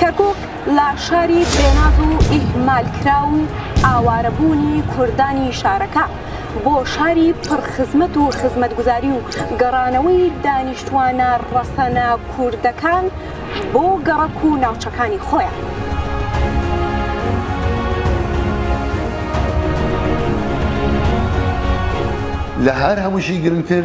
کەرکوک لە شاری بێناز و ئیهمالکراو و ئاوارەبوونی کوردانی شارەکە بۆ شاری پڕ خزمەت و خزمەتگوزاری و گەڕانەوەی دانیشتوانە ڕەسەنە کوردەکان بۆ گەڕەک و ناوچەکانی خۆیان. لە هەر هەمووشی گرنگتر،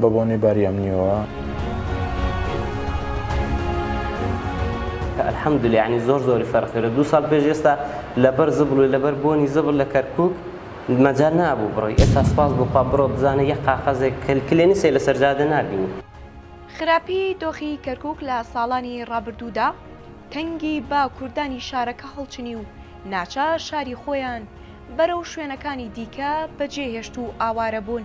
بە بۆنەی باری ئەمنیەوە. الحمدللە یەعنی زۆر زۆری فەرق کرد دوو ساڵ پێش ئێستا لەبەر زبڵ و لەبەر بۆنی زبڵ لە کەرکوک مەجال نابوو بڕۆی ئێستا سپاس بۆ خوا بڕۆ بزانە یەک قاقەزێک کلێنسێ لەسەر جادە نابینی. خراپی دۆخی کەرکوک لە ساڵانی ڕابردوودا تەنگی بە کوردانی شارەکە هەڵچنی و ناچار شاری خۆیان بەرەو شوێنەکانی دیکە بەجێهێشت و ئاوارەبوون،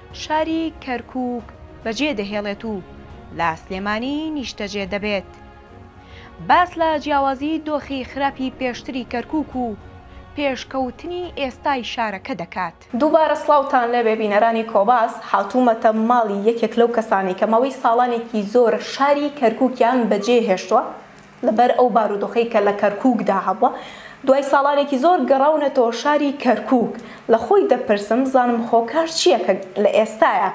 شاری کەرکووک بەجێ دەهێڵێت و لە سلێمانی نیشتەجێ دەبێت. باس لە جیاوازی دۆخی خراپی پێشتری کەرکووک و پێشکەوتنی ئێستای شارەکە دەکات. دووبارە سڵاوتان لێبێ بینەرانی کۆباس، هاتوومەتە ماڵی یەکێک لەو کەسانەی کە ماوەی ساڵانێکی زۆرە شاری کەرکووکیان بەجێ هێشتووە، لەبەر ئەو بارودۆخەی کە لە کەرکووکدا هەبووە، دوای ساڵانێکی زۆر گەڕاونەتەوە شاری کەرکووک، لە خۆی دەپرسم بزانم هۆکار چییە کە لە ئێستایا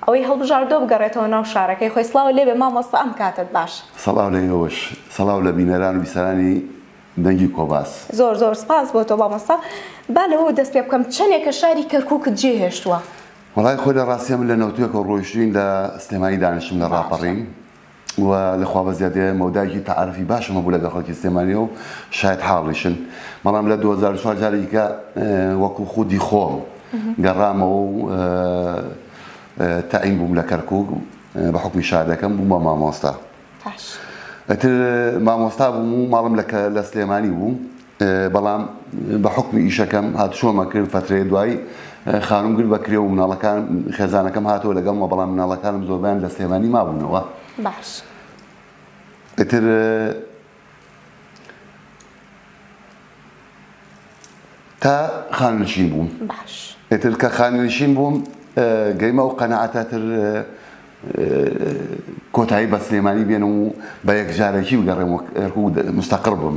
ئەوەی هەڵبژاردووە بگەڕێتەوە ناو شارەکەی خۆی، سڵاو لێبێ مامۆستا ئەم کاتەت باش. سڵاو لە ئێوەش، سڵاو لە بینەران و بیسەرانی دەنگی کۆباس. زۆر زۆر سپاس بۆ تۆ مامۆستا، با لەوەوە دەست پێ بکەم چەندێکە شاری کەرکووکت جێ هێشتووە؟ وەڵای خۆی لە ڕاستیا من لە نەوتوێکەوە ڕۆیشتووین لە سلێمانی دانیشتم لە ڕاپەڕین، و لە خوا بەزیادەیە مەودایەکی تەعارەفی باشم هەبوو لەگەڵ خەڵکی سلێمانییەوە و شایەد حاڵیشن، بەڵام لە دوو هەزار و چوار جارێکی کە وەکوو خودی خۆم گەڕامەوە و تەعین بووم لە کەرکووک بە حوکمی شارەکەم بووم بە مامۆستا. ئیتر مامۆستا بووم و ماڵم لە سلێمانی بوو. بەڵام بە حوکمی ئیشەکەم هاتشۆمە کرد فەترەیە دوایی خانم گرد بە کرێ و مناڵەکان خێزانەکەم هاتەوە لەگەڵمە بەڵام مناڵەکانم زۆربیان لە سلێمانی مابوونەوە باش ئیتر تا خانشین بووم باش ئیتر کە خانشین بووم گەیمە و قەنەعاتە تر کۆتایی بە سلێمانی بێنم و بە یەکجارەکی بگەڕێم مستەقر بم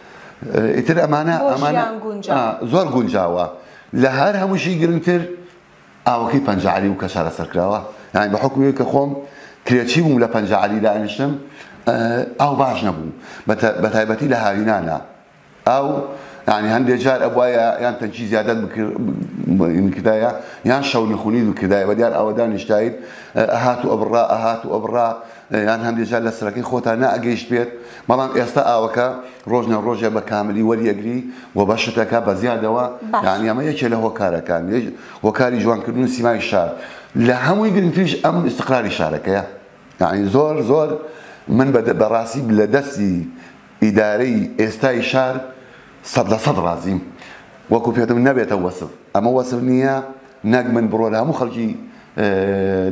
ئیتر ئەمانە بۆ ئەمانە ژیان گونجاو. ئا، زۆر گونجاوە لە هەر هەمووشی گرنگتر ئاوەکەی پەنجەعەلی و کە چارەسەرکراوە یانی بە حوکمی ئەوەی کە خۆم کرێچی بووم لە پەنجەعەلی دانیشتم ئا، ئاو باش نەبوو بە تە بە تایبەتی لە هاوینانە ئاو یانی هەندێ جار ئەبوایە یان تەنکی زیادەت بکر بکردایە یان شەونخونیت بکردایە بە دیار ئاوە دانیشتایت ئەهات و ئەبڕا ئەهات و ئەبڕا یان هەندێ جار لە سەرەکەی خۆتا نەئەگەیشت بێت، بەڵام ئێستا ئاوەکە ڕۆژ نە ڕۆژێ بە کاملی وەریەگری و بەشت ئەکا بە زیادەوە، یانی ئەمە یەکێ لە هۆکارەکان، هۆکاری جوان کردن و سیمای شار، لە هەمووی گرنگتریش ئەم ئیستقراری شارەکەیە، یانی زۆر زۆر من بە ڕاستی لە دەستی ئیدارەی ئێستای شار سەد لە سەد ڕازیم وەکو پێتم نەبێتە وەسف ئەمە وەسف نییە نەک من بڕۆ لە هەموو خەڵکی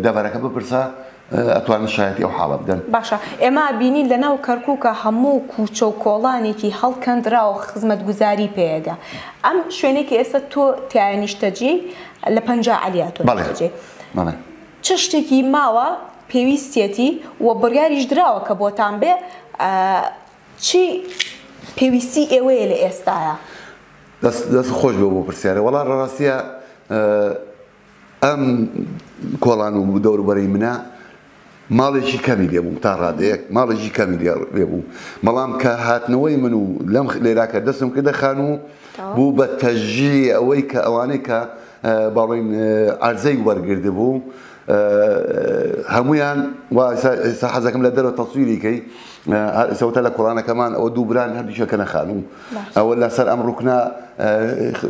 دەڤەرەکە بپرسە ئەتوانن شایەتی ئەو حاڵە بدەن. باشە ئێمە ئەبینین لە ناو کەرکوکە هەموو کوچە و کۆڵانێکی هەڵکەندراوە خزمەتگوزاری پێیەگە ئەم شوێنێکی ئێستا تۆ تایە نیشتەجێی لە پەنجا عەلی ئاتۆ نیشتەجێی. چ شتێکی ماوە پێویستیەتی و بڕیاریش دراوە کە بۆتان بێ چی پێویستی ئێوەیە لە ئێستایا؟ دەست خۆش بێ بۆ پرسیارە وەڵا ڕاستیە ئەم کۆڵان و دەوروبەرەی منە ماڵێکی کەمی لێ بووم تا ڕادەیەک ماڵێکی کەمی لێ بوو بەڵام کە هاتنەوەی من و لەم لێراکە دەستم کردە خان و بوو بە تەژی ئەوەی کە ئەوانەی کە با بڵێین عەرزەی وەرگردبوو هەمویان ئێستا حەزەکەم لە دەرەوە تەسویری کەی ئێسەوەتە لە کوڕانەکەمان ئەوە دوو بران هەردووشە کەنە خانوو ئەوە لەسەر ئەم ڕوکنا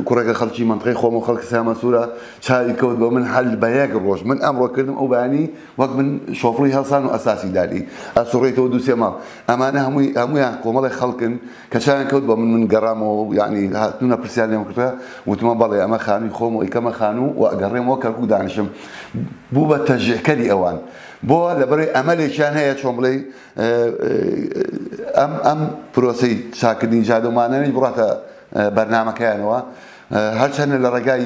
کوڕێکە خەڵکی منطقی خۆم و خەڵکی سامە سوورە چاوی کەوت بۆ من هەل بە یەک ڕۆژ من ئەمڕۆ کردم ئەو بانی وەک من شۆفڵی هەڵسان و ئەساسی داری ئەسوڕێتەوە دووسێ ماڵ ئەمانە هەمووی هەمویان کۆمەڵی خەڵکن کە چاویان کەوت بە من من گەڕامەوە و یەعنی هاتنە پرسیار لێم کردە وتمە بەڵێ ئەمە خانووی خۆم و ئەیکەمە خانوو و ئەگەڕێمەوە کەرکوک دانیشم بوو بە تەژیعکەری ئەوان بۆ لەبەرەی ئەمەلێکیان هەیە چۆن بڵێ ئەم ئەم پرۆسی چاکردنی جادە و مانەوەی بڕاتە بەرنمەکەیانەوە هەرچەندە لە ڕێگای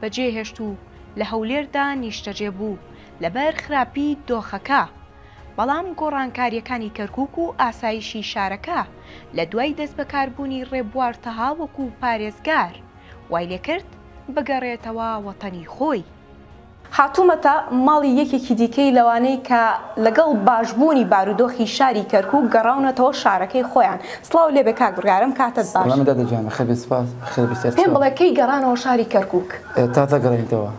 بەجێ هێشت و لە هەولێردا نیشتەجێ بوو لەبەر خراپی دۆخەکە، بەڵام گۆڕانکارییەکانی کەرکووک و ئاسایشی شارەکە لە دوای دەستبەکاربوونی ڕێبوار تەها وەکو پارێزگار، وای لێکرد بگەڕێتەوە وەتەنی خۆی. هاتوومەتە ماڵی یەکێکی دیکەی لەوانەی کە لەگەڵ باشبوونی بارودۆخی شاری کەرکووک گەڕاونەتەوە شارەکەی خۆیان، سڵاو لێبێ کاک بڕگارم کاتت باش. سەلامت دادە گیان بەخێربێی سوپاس بەخێر بێی تکایە. پێم بڵێ کەی گەڕانەوە شاری کەرکوک. تا دەگەڕێینتەوە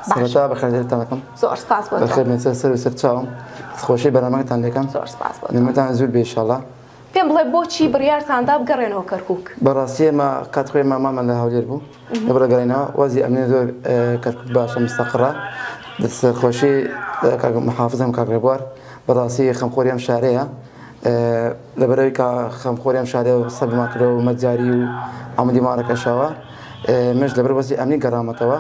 سەرەتا بەخێرهێرتان دەکەم. زۆر سوپاس بۆ تۆ. بەخێر بێن سەر سەرو سەر چاوم دەستخۆشی بەرنامەکەتان لێکەم. زۆر سوپاس بۆ تۆ. نمرەتان زور بێ ئیشاڵا. پێم بڵێ بۆچی بڕیارتان دا بگەڕێنەوە کەرکوک. بەڕاستی ئێمە کات خۆیمان مامان لە هەولێر بوو. دبڕە گەڵینا وەزی ئەمنی زۆر کەرکوک باشە مستەقڕە دەست خۆشی کاک محافظم کاک ڕێبوار بەڕاستی خەمخۆری ئەم شارەیە لەبەرەوەی کا خەمخۆری ئەم شارەیە و سەر بما کرەوە مەجاری و عمودی ماڕەکەشەوە مش لەبەر وەزی ئەمنی گەڕامەتەوە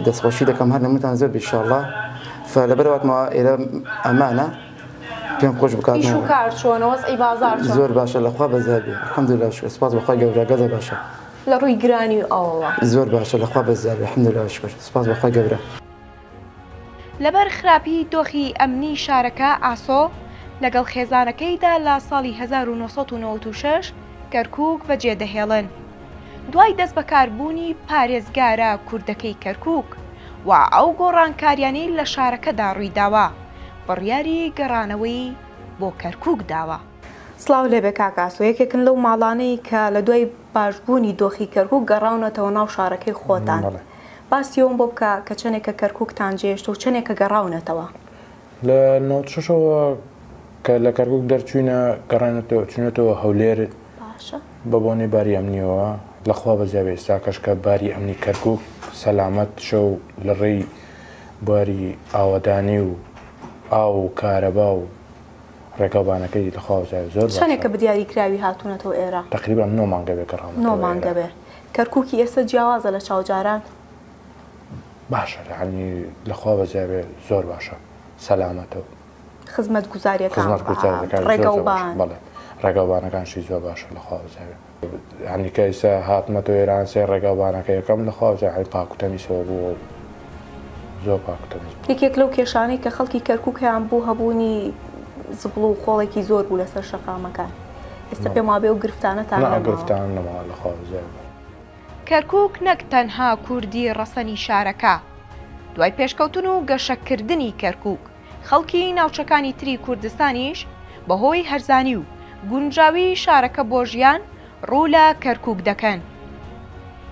دەستخۆشی دەکەم هەر نمتان زۆر بیشاڵە فلەبەرەوەاتمەوە ئێرە ئەمانە پێم خۆش بکات کار چۆنەوەز ئی بازار زۆر باشە لەخوا بەزار بێ حەمدلا شکر سپاس بەخوای گەورە گەزە باشە لە ڕووی گرانی و ئەوەوە. زۆر باشە لە خوا بەزیابی الحمدللە و شکر سوپاس بەخوای گەورە. لەبەر خراپی دۆخی ئەمنی شارەکە ئاسۆ لەگەڵ خێزانەکەیدا لە ساڵی هەزار و نۆ سەد و نەوەد و شەش کەرکووک بەجێدەهێڵن دوای دەستبەکاربوونی پارێزگارە کوردەکەی کەرکووک و ئەو گۆڕانکاریانەی لە شارەکەدا ڕوویداوە بڕیاری گەڕانەوەی بۆ کەرکووک داوە. سڵاو لێبێ کاک ئاسۆ یەکێکن لەو ماڵانەی کە لە دوای باشبوونی دۆخی کەرکوک گەڕاونەتەوە ناو شارەکەی خۆتان باسی ئەوەم بۆ بکە کە چەنێکە کەرکوکتان جێهێشتە و چەنێکە گەڕاونەتەوە لە نەوەد و شەشەوە کە لە کەرکوک دەرچوینە گەڕاینەتەوە چونەتەوە هەولێر بە بۆنەی باری ئەمنیەوە لە خوا بەزیاب ئێستا کەشکە باری ئەمنی کەرکوک سەلامەت شە و لە ڕێی باری ئاوەدانی و ئاو و کارەبا و ڕێگاوبانەکەی لە خوا وتایە زۆر باشە. چەنێکە بەدیاری کراوی هاتوونەتەوە ئێرە؟ تەقریبەن نۆ مانگە بێ گەڕامەتەوە ئێرە. نۆ مانگە بێ. کەرکووکی ئێستا جیاوازە لە چاو جاران؟ باشە یەعنی لە خوا بەزیا بێ زۆر باشە سەلامەتە و. خزمەتگوزارییەکان. خزمەتگوزارییەکان زۆر زۆر باشە. ڕێگاوبان. بەڵێ ڕێگاوبانەکانشی زۆر باشە لە خوا بەزیا بێ. یانی کە ئیستا هاتمەتەوە ئێران سێ ڕێگا بانەکە یەکەم لە خوا جاحی پاکو تەمیسەوە بووە و زۆر پاکو تەمیز بوو. یەکێک لەو کێشانەی کە خەڵکی کەرکوک هەیان بوو هەبوونی زبڵ و خۆڵێکی زۆر بوو لەسەر شەقامەکان ئێستا پێم وابێ ئەو گرفتانەتان نەماوە. نا گرفتانە نەماوە لە خوا بزیاد. کەرکوک نەک تەنها کوردی ڕەسەنی شارەکە دوای پێشکەوتن و گەشەکردنی کەرکوک، خەڵکی ناوچەکانی تری کوردستانیش بەهۆی هەرزانی و گونجاوی شارەکە بۆ ژیان ڕوو لە کەرکووک دەکەن.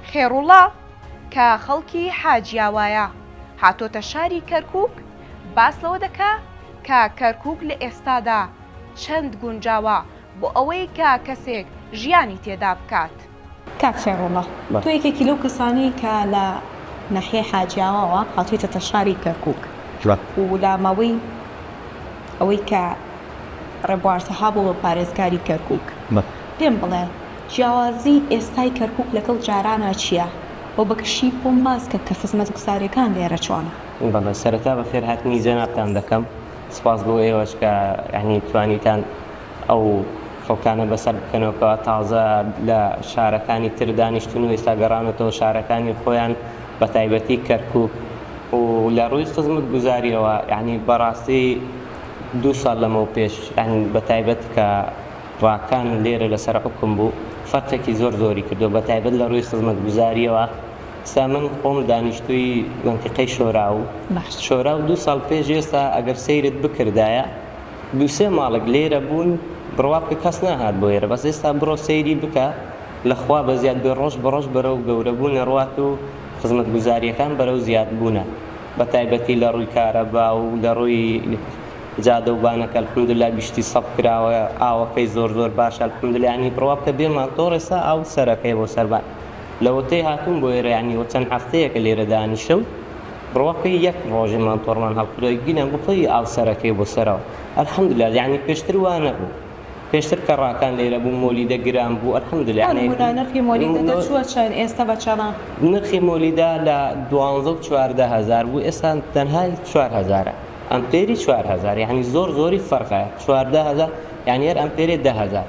خێڕوڵا کە خەڵکی حاجیاوایە هاتۆتە شاری کەرکووک باس لەوە دەکا کە کەرکووک لە ئێستادا چەند گونجاوە بۆ ئەوەی کە کەسێک ژیانی تێدا بکات. کاک خێڕوڵڵە تۆ یەکێکی لەو کەسانەی کە لە ناحیەی حاجیاواوە هاتوویتەتە شاری کەرکووک و لە ماوەی ئەوەی کە ڕێبوار تەها بووە پارێزگاری کەرکووک پێم بڵێ جیاوازی ئێستای کەرکووک لەگەڵ جارانا چییە و بە گشتی بۆم باس کە کە خزمەتگوزاریەکان لێرە چۆنە؟ بەڵێ سەرەتا بەخێرهاتنی جەنابتان دەکەم سپاس بۆ ئێوەش کە یانی توانیتان ئەو خەڵکانە بەسەر بکەنەوە کەوا تازە لە شارەکانی تر دانیشتون و ئێستا گەڕانەتەوە شارەکانی خۆیان بە تایبەتی کەرکوک و لە ڕووی خزمەت گوزاریەوە یعنی بەڕاستی دوو ساڵ لەمەو پێش یعنی بە تایبەت کە ڕاکان لێرە لەسەر حکم بوو فەرقێکی زۆر زۆری کردو بە تایبەت لە ڕووی خزمەت گوزاریەوە سا من خۆم دانیشتوی مەنتیقەی شۆراو شۆراو دوو ساڵ پێش ئێستا ئەگەر سەیرت بکردایە دوو سێ ماڵک لێرە بوون بڕوا بکە کەس ناهات بۆ ئێرە بەس ئێستا بڕۆ سەیری بکە لە خوا بە زیاد بێ ڕۆژ بە ڕۆژ بەرەو گەورە بوون ئەڕوات و خزمەت گوزاریەکان بەرەو زیاد بوونە بە تایبەتی لە ڕووی کارەبا و لە ڕووی جادە و بانەکە الحمدللە گشتی سەف کراوە ئاوەکەی زۆر زۆر باشە الحمدللە یانی بڕوا بکە بێ ماتۆڕ ئێستا ئاو سەرەکەیە بۆ سەربان لەوەتەی هاتووم بۆ ئێرە یانی وە چەند هەفتەیەکە لێرە دانیشتم ڕوەکەی یەک ڕۆژی مانتۆڕمان هەڵکردوە گینە گوپڵی ئاو سەرەکەی بۆ سەرەوە الحمدللە یانی پێشتر وا نەبوو پێشتر کە ڕاکان لێرە بوو مۆلیدە گران بوو الحمدللە یانی هەرهونا نرخی مۆلیدە دەچوە چەن ئێستە بە چەنە نرخی مۆلیدە لە دوانزە و چواردە هەزار بوو ئێستا تەنها چوار هەزارە ئەمپێری چوار هەزار یانی زۆر زۆری فەرقە چواردە هەزار یانی هەر ئەمپێرێ دە هەزار.